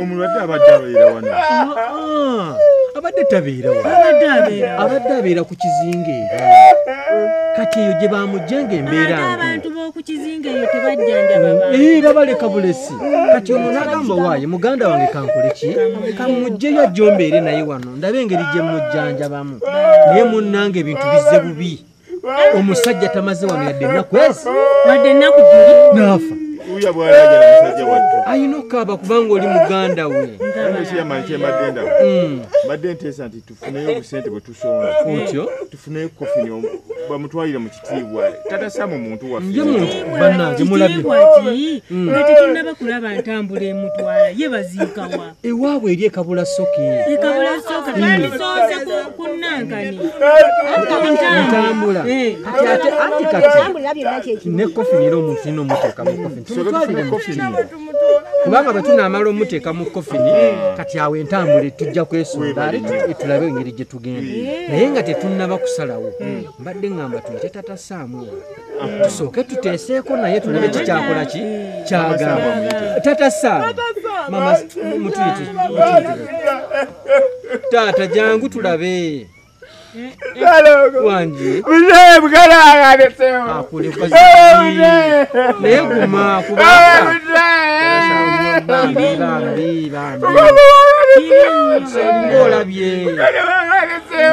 omulwadde abadde abeera wano abadde tabeera abadde abeera ku kizinga era kati eyo gye bamujja nga embeera ee babaleka bulesi kati ono nagamba waaye muganda wange kankole ki kamujjeyo ajjombeere naye wano ndabe engeri gye mujjanjabamu naye munnanga ebintu bizze bubi omusajja tamaze wano yadde ennaku ezi wadde ennaku buli naafa uya bwalajala musajja wattu ayina okaaba kubanga oli muganda we kyemadenda mm. mbadde nteesa nti tufuneyo obusente bwe tusonga otyo tufuneyo kofini bamutwalire mu kitiibwa tatasa mu muntu waffe banange mulabye nga tetunaba kulaba ntambula emutwala ye baziikawa ewaabwe eri ekabula soke ntambula kati ate anti kati ne kofi nira omuntu nina omuteeka mu kofi tumutwalire mu kitiiwa kubanga bwe tunaamala omuteeka mu kofini kati awo entambula tujja kwesonda ale tulabe engeri gye tugenda naye nga tetunnaba kusalawo mbadde ngamba tuyite tatasaamu tusooke tuteeseeko naye tulabe kikyakola ki kyagamba tata saama mama mutuyiti taata jangu tulabe wangi mzee mkala anasema akule kwa zii naye guma kubaka bambi bambi bambi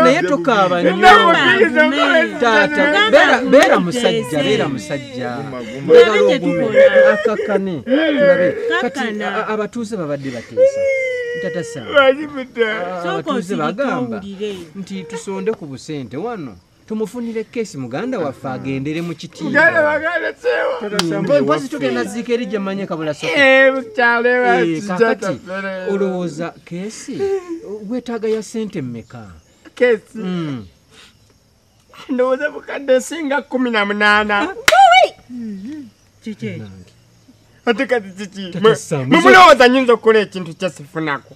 naye tukaaba nyotaata beera musajja beera musajja akakane kati abatuuze babadde bateesa ntatasabatuuze bagamba nti tusonde ku busente wano tumufunire kesi muganda waffe agendere mu kitiibwampozi tugenda ziika eri gyemmanye kabula sokati eh, eh, olowooza kesi wetaaga ya sente mmeka kesi hmm. ndowooza bukadde esinga kumi na munaana hmm. kiki ati kati kiki mumulowooza nyinza okukola ekintu kyesifunako